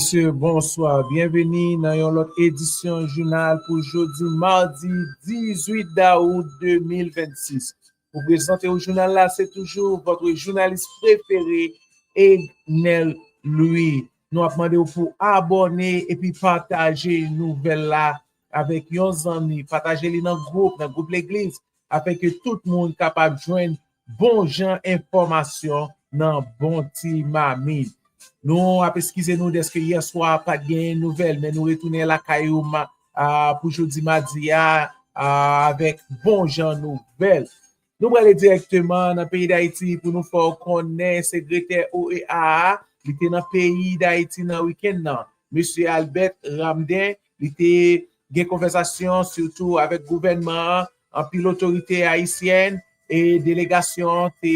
Mesye, bonswa. Byenveni nan yon lòt edisyon jounal pou jodi madi 18 dawout 2026. Pou prezante ou jounal la, se toujou vòtre jounalis prefere Ednel Louis. Nou ap mande ou pou abòne epi pataje nouvèl la avèk yon zanmi. Pataje li nan gwoup, nan gwoup legliz, afin ke tout moun kapab jwenn bon jan enfòmasyon nan bon ti mamit. Nou ap eskize nou dèske yè swa pat gen nouvèl men nou retounen lakay ou pou jodi madi a avèk bon jan nouvèl. Nou prale dirèkteman nan peyi Dayiti pou nou fè w konnen segretè OEA a li te nan peyi Dayiti nan wikenn nan, Mesye Albert Ramdin Li te gen konvèsasyon sitou avèk gouvènman an, anpil otorite ayisyèn e delegasyon an te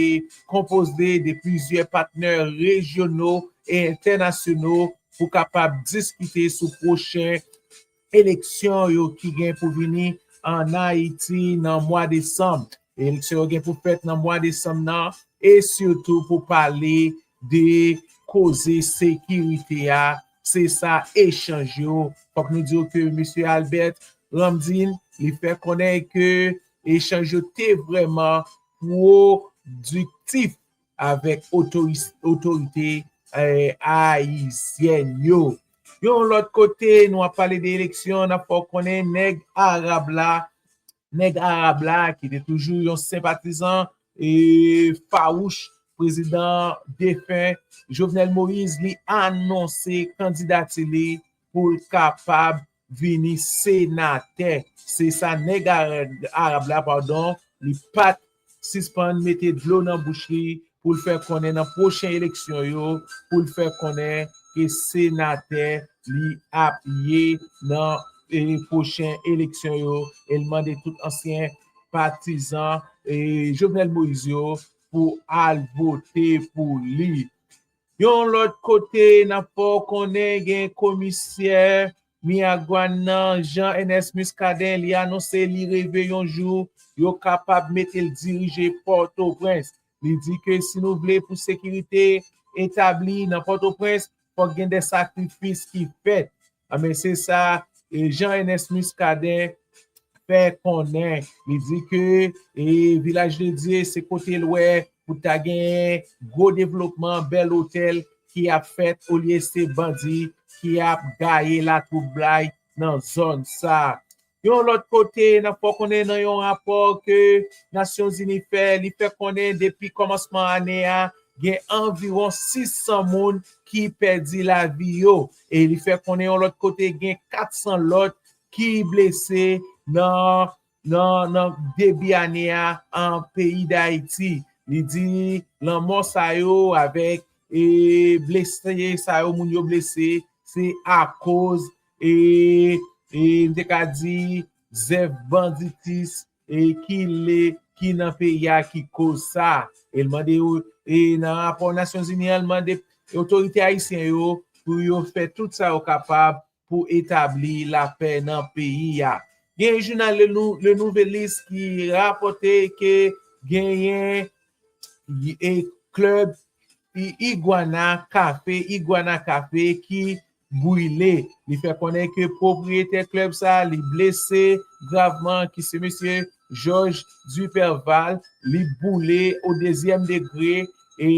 konpoze de plizyè patnè rejyono e entènasyono pou kapab diskite sou pwochen eleksyon yo ki gen pou vini ann Ayiti nan mwa desanm. Eleksyon yo gen pou fèt nan mwa desanm nan e sitou pou pale de koze sekirite a, se sa echanj yo. Fòk nou diw ke Mesye Albert Ramdin li fè konnen ke echanj yo te vrèman pwodiktif avèk otorite ayisyèn yo. Yon lòt kote nou ap pale de eleksyon, n ap fè w konnen nèg arab la Nèg Arab la ki te toujou yon senpatizan e fawouch prezidan defen Jovenel Moïse li anonse kandidati li pou l kapab vini senatè. Se sa nèg Arab la padon li pat sispann mete dlo nan bouch li pou l fè konnen nan pwochen eleksyon yo pou l fè konnen ke senatè li ap ye nan pwochen eleksyon yo e l mande tout ansyen patizan Jovenel Moïse yo pou al vote pou li. Yon lòt kote nan fè w konnen gen komisè Miragwàn nan Jean Ernest Muscadin li anonse li reve yon jou yo kapab mete l dirije Pòtoprens. Li di ke si nou vle pou sekirite etabli nan Pòtoprens fòk gen de sakrifis ki fèt. Anben se sa Jean Ernest Muscadin fè konnen, li di ke Vilaj de Dye se kote l wè pou ta genyen gwo devlopman, bèl otèl ki ap fèt olye se bandi ki ap gaye latwoublay nan zòn sa. Yon lòt kote, nan fè konnen nan yon rapò ke Nasyonzini fè, li fè konnen depi kòmansman ane a, gen anviwon 600 moun ki pèdi lavi yo e li fè konnen yon lòt kote gen 400 lòt ki blese nan debi ane a an peyi Dayiti. Li di lanmò sa yo avèk blese sa yo moun yo blese se akoz e m te ka di zèv banditis ki le ki nan peyi a ki koz sa e l mande yo e nan rapò nasyonzini an l mande otorite ayisyen yo pou yo fè tout sa yo kapab pou etabli lapè nan peyi a gen yon jounal le nouvelis ki rapòte ke genyen e klèb iguana cafe iguana cafe ki brile. Li fè konnen ke pwopriyetè klèb sa li blese gravman ki se mesye Georges Duperval li boule o dezyèm degre e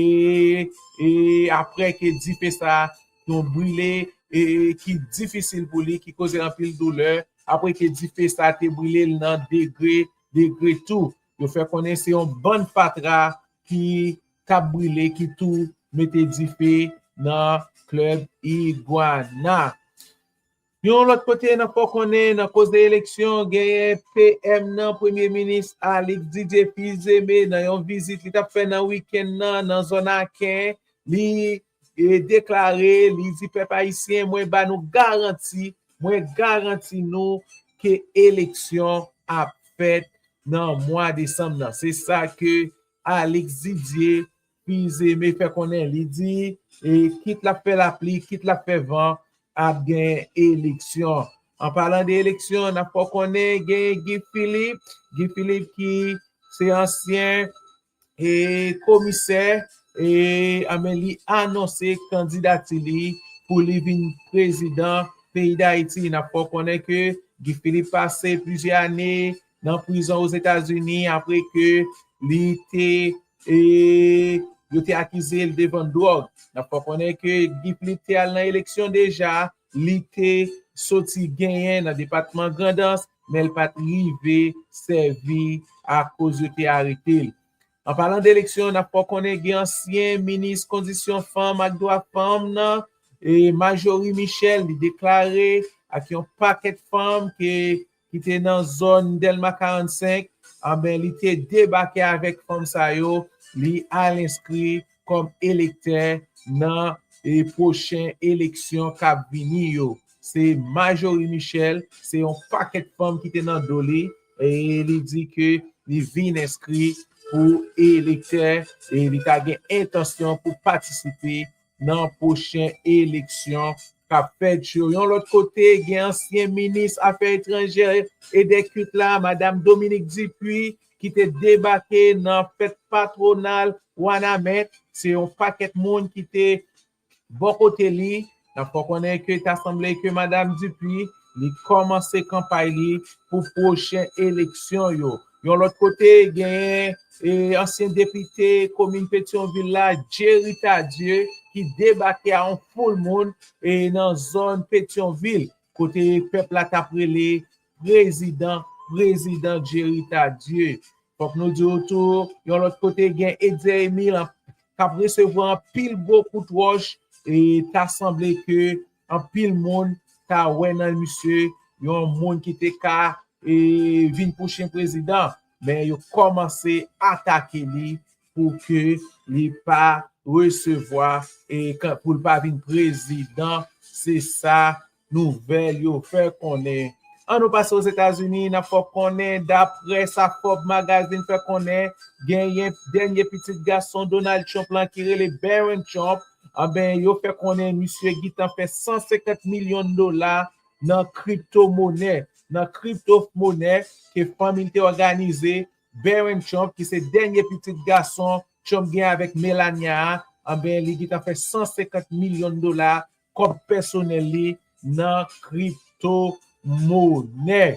e aprè ke dife sa yon brile e ki difisil pou li ki koze anpil doulè aprè ke dife sa te brile l nan degre degre tou. Yo fè konnen se yon bann fatra ki kap brile ki tou mete dife nan klèb Iguana. Yon lòt kote nan fò konnen nan koze eleksyon genyen PM nan premye minis Alix Didier Fils-Aimé nan yon vizit li tap fè nan wikenn nan nan zòn Aken li deklare li di pèp ayisyen mwen ba nou garanti mwen garanti nou ke eleksyon ap fèt nan mwa desanm nan se sa ke Alix Didier, Fils Aimé fè konnen li di kit l ap fè lapli, kit l ap fè van ap gen eleksyon. An palan de eleksyon n ap fè w konnen gen Guy Philippe, Guy Philippe ki se ansyen komisè anben li anonse kandidati li pou li vin prezidan peyi Dayiti. N ap fè w konnen ke Guy Philippe pase plizyè ane nan prizon Ozetazini apre ke li te yo te akize l de vann dwòg. N ap fè konnen ke Guy Philippe te al nan eleksyon deja, li te soti genyen nan depatman Grandans, men l pa t rive sèvi akoz yo te arete l. An palan de eleksyon, n ap fè w konnen gen ansyen minis kondisyon fanm ak dwa fanm nan, Majorie Michel, li deklare ak yon pakèt fanm ke ki te nan zòn Dèlma 45, anben li te debake avèk fanm sa yo, li al enskri kòm elektè nan pwochen eleksyon k ap vini yo. Se Majorie Michel, se yon pakèt fanm ki te nan do li, e li di ke li vin enskri pou elektè e li ta gen entansyon pou patisipe nan pwochen eleksyon k ap fèt yo. Yon lòt kote, gen ansyen minis afè etranjè e dè kilt la, madam Dominique Dupuy, ki te debake nan fèt patwonal Wanament. Se yon pakèt moun ki te bò kote li. N ap fè w konnen ke ta sanble ke madam Dupuy li kòmanse kanpay li pou pwochen eleksyon yo. Yon lòt kote, genyen ansyen depite komin Petyonvil la, Jerry Tardieu, ki debake a yon foul moun nan zòn Petyonvil, kote pèp la t ap rele Prezidan, Prezidan Jerry Tardieu. Fòk nou di w tou, yon lòt kote, gen Etzer Emile k ap resevwa anpil gwo kout wòch, ta sanble ke. Anpil moun ta wè nan misye yon moun ki te ka vin pwochen prezidan, men yo kòmanse atake li pou ke li pa resevwa e pou l pa vin prezidan, se sa nouvèl yo fè konnen. An nou pase Ozetazini, n ap fè w konnen daprè sa Forbes Magazine fè konnen, genyen dènye pitit gason Donald Trump lan ki rele Barron Trump, Anben yo fè konnen misye gintan fè 150 milyon dola nan kripto monè, nan kripto monè ke fanmi l te òganize, Barron Trump ki se dènye pitit gason Trump gen avèk Melania a, anben li gintan fè 150 milyon dola kòb pèsonèl li nan kripto monè.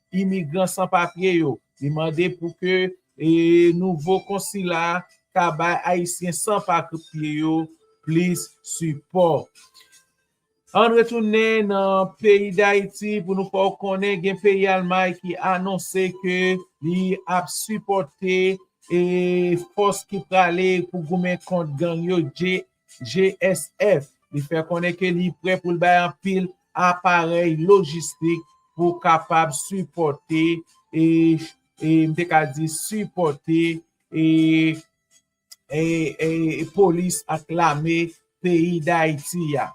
imigran san papye yo. Li mande pou ke nouvo konsila ta bay ayisyen san papye yo plis sipò. Ann retounen nan peyi Dayiti pou nou fè w konnen gen peyi Almay ki anonse ke li ap sipòte fòs ki prale pou goumen kont gang yo, GSF, li fè konnen ke li prè pou l bay anpil aparèy lojistik pou kapab sipòte e m te ka di sipòte e polis ak lame peyi Dayiti a.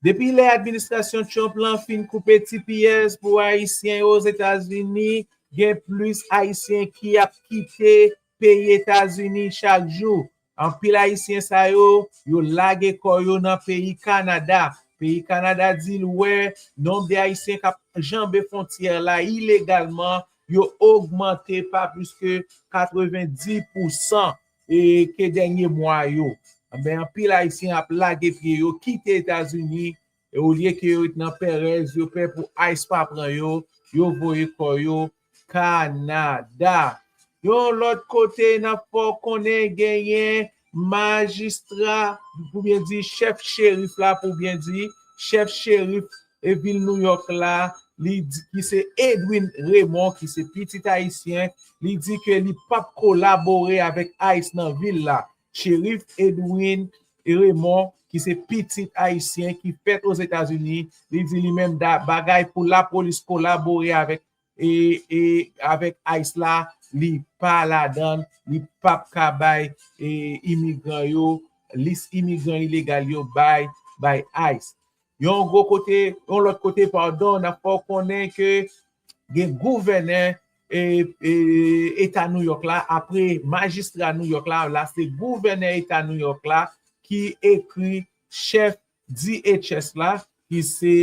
Depi lè administrasyon Trump lan fin koupe tps pou ayisyen yo Ozetazini, gen plis ayisyen ki ap kite peyi Etazini chak jou. Anpil ayisyen sa yo, yo lage kò yo nan peyi Kanada. Peyi Kanada di l wè nonb de ayisyen k ap janbe fwontyè la ilegalman yo ogmante pa plis ke 90 pousan. E ke dènye mwa yo, anben anpil Ayisyen ap lage pye yo, kite Etazini, e olye ke yo ret nan pèrèz, yo pè pou ice pa pran yo, yo voye kò yo Kanada. Yon lòt kote, n ap fè w konnen genyen majistra, pou byen di chèf cherif la, pou byen di chèf cherif e vil Nouyòk la, li di ki se Edwin Raymond ki se pitit ayisyen, li di ke li pap kolabore avèk ice nan vil la. Sheriff Edwin Raymond ki se pitit ayisyen ki fèt Ozetazini, li di li menm da bagay pou lapolis kolabore avèk e avèk ice la li pa ladann li pap ka bay imigran yo lis imigran ilegal yo bay bay ice yon gwo kote yon lòt kote padon nap fè w konnen ke gen gouvènè eta nouyòk la apre majistra nouyòk la la se gouvènè eta nouyòk la ki ekri chèf DHS la ki se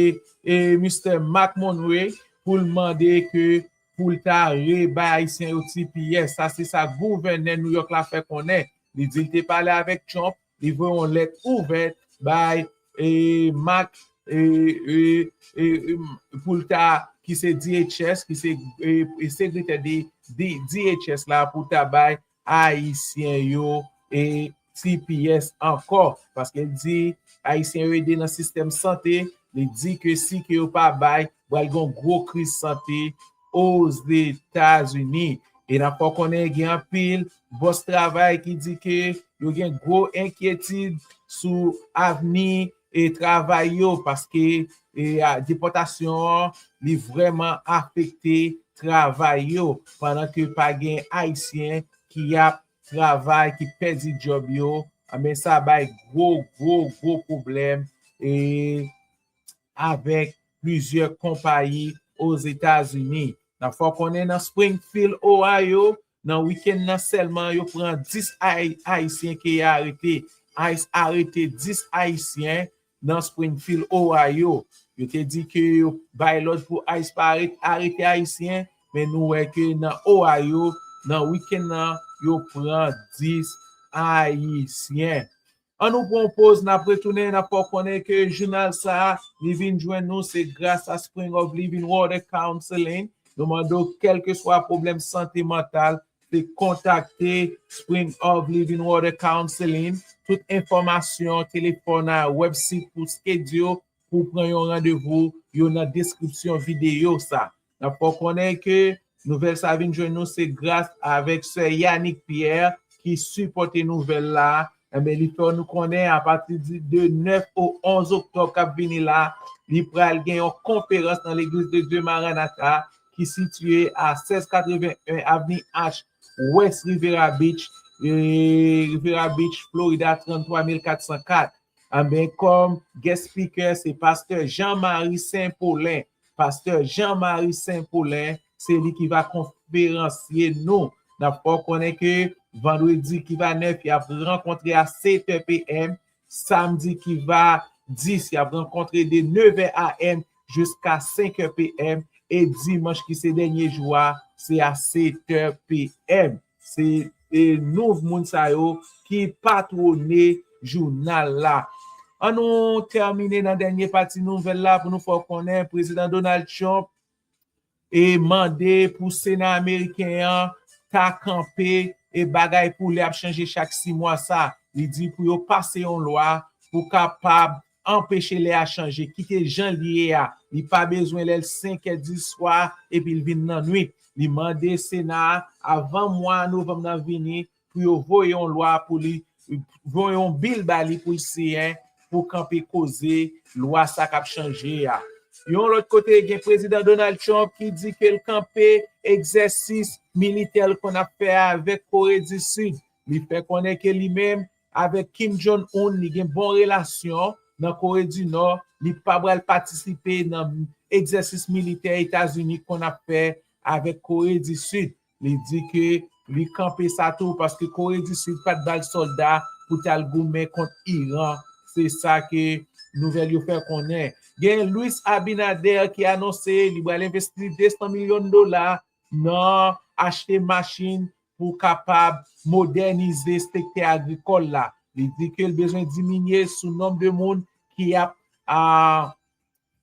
Mistè Marc Monroy pou l mande ke pou l ta rebay Ayisyen yo tps. Sa se sa gouvènè New York la fè konnen. Li di li te pale avèk Trump, li voye yon lèt ouvèt bay Marc pou l ta, ki se DHS, ki se sekretè DHS la pou ta bay Ayisyen yo e tps ankò paske l di ayisyen yo ede nan sistèm sante li di ke si ke yo pa bay pral gen yon gwo kriz sante ozetazini e nap fè w konnen gen anpil bòs travay ki di ke yo gen gwo enkyetid sou avni travay yo paske depòtasyon an li vrèman afekte travay yo pandan ke pa gen ayisyen ki ap travay ki pèdi djòb yo anben sa bay gwo gwo gwo pwoblèm avèk plizyè konpayi Ozetazini. Fò w konnen nan Springfield Ohio Nan wikenn nan sèlman yo pran 10 ayisyen ke ya arete. Ice arete 10 ayisyen nan Springfield, Ohio. Yo te di ke yo bay lòd pou ice pa arete ayisyen, men nou wè ke nan Ohio, nan wikenn nan yo pran 10 ayisyen. An nou pran yon poz nap retounen nap fè w konnen ke jounal sa li vin jwenn nou se gras a Spring of Living Water Counseling nou mande w kèlkeswa pwoblèm sante mantal se kontakte Spring of Living Water Counseling tout enfòmasyon telefòn a wèbsit pou skedyo pou pran yon randevou yo nan deskripsyon videyo sa Nap fè w konnen ke nouvèl sa vin jwenn nou se gras avèk sè Yanick Pierre ki sipòte nouvèl la, enben li fè nou konnen apati de 9 au 11 oktòb kap vini la li pral gen yon konferans nan Legliz de Dye Maranatha ki sitye a 1681 avni H wès Rivera Beach, Rivera Beach, Florida 33404. Enben kòm guest speaker se pastè Jean Marie Saint Paulin. Pastè Jean Marie Saint Paulin se li ki va konferansye nou. Nap fè w konnen ke vandredi ki va 9 yap rankontre a 7 è PM, samdi ki va 10 yap rankontre de 9 è AM jiska 5 è PM e dimanch ki se dènye jou a se a 7 è PM. Se e nouv moun sa yo ki patwone jounal la. An nou tèmine nan dènye pati nouvèl la pou nou fè w konnen Prezidan Donald Trump e mande pou Sena ameriken an ta kanpe e bagay pou lè ap chanje chak si mwa sa. Li di pou yo pase yon lwa pou kapab Anpeche lè a chanje, kite jan li ye a. Li pa bezwen lè l 5 è di swa epi l vin lannwit. Li mande Sena a avan mwa novanm nan vini pou yo voye yon lwa pou li, voye yon bil ba li pou l siyen pou kanpe koze lwa sa k ap chanje a. Yon lòt kote, gen Prezidan Donald Trump ki di ke l kanpe egzèsis militè l konn ap fè avèk Kore di Sid. Li fè konnen ke li menm Avek Kim Jong Un li gen bon relasyon nan Kore di Nò, li pa pral patisipe nan egzèsis militè Etazini konn ap fè avek Kore di Sid. Li di ke li kanpe sa tou paske Kore di Sid pat bal solda pou tal goumen kont Iran, se sa ke nouvèl yo fè konnen. Gen Luis Abinader ki anonse li pral envesti 200 milyon dola nan achte machin pou kapab modènize sektè agrikòl la. Li di ke l bezwen diminye sou nonb de moun ki ap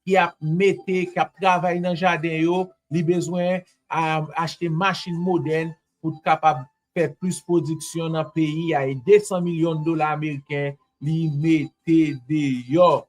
ki ap mete, ki ap travay nan jaden yo, li bezwen achte machin modèn pou t kapab fè plis pwodiksyon nan peyi a e 200 milyon dola ameriken li mete deyò.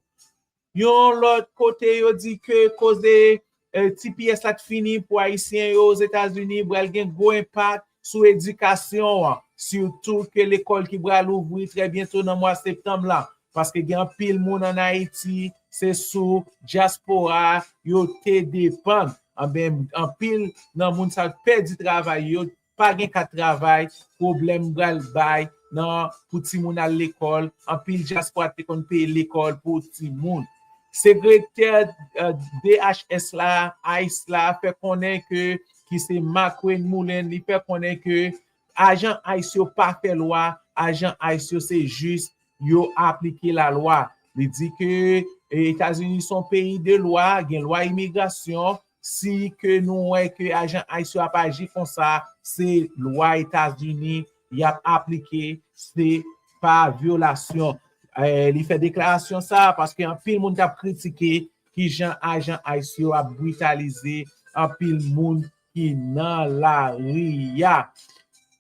Yon lòt kote yo di ke koze tps la t fini pou ayisyen yo Ozetazini bral gen gwo enpak sou edikasyon an, sitou ke lekòl ki bral ouvri trè byento nan mwa septanm la, paske gen anpil moun an Ayiti se sou dyaspora yo te depann, anben anpil nan moun sa yo t pèdi travay yo, pa gen kat travay, pwoblèm bal bay nan pou timoun al lekòl, anpil dyaspora te konn peye lekòl pou timoun. Sekretè DHS la, ice la, fè konnen ke, ki se Markwayne Mullin, li fè konnen ke ajan ice yo pa fè lwa, ajan ice yo se jis yo aplike la lwa. Li di ke Etazini son peyi de lwa, gen lwa imigrasyon, Si ke nou wè ke ajan ice yo ap aji konsa, se lwa Etazini y ap aplike, se pa vyolasyon. Li fè deklarasyon sa a paske anpil moun t ap kritike kijan ajan ice yo ap britalize anpil moun ki nan lari a.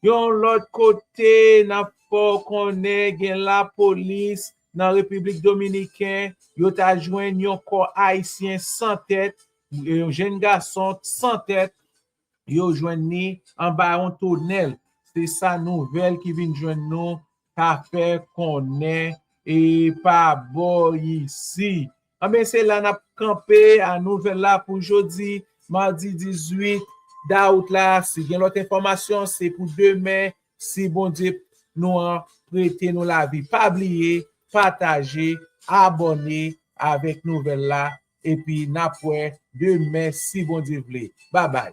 Yon lòt kote, n ap fè w konnen gen lapolis nan Repiblik Dominiken, yo ta jwenn yon kò Ayisyen san tèt, yon jenn gason san tèt, yo jwenn li anba yon tonèl. Se sa nouvèl ki vin jwenn nou ta fè konnen e pa bò isi. Anben se la n ap kanpe a nouvèl la pou jodi madi 18 dawout la. Si gen lòt enfòmasyon se pou demen Si Bondye p Nou an prete Nou lavi pa bliye pataje abòne avèk nouvèl la epi nap wè demen si Bondye vle babay.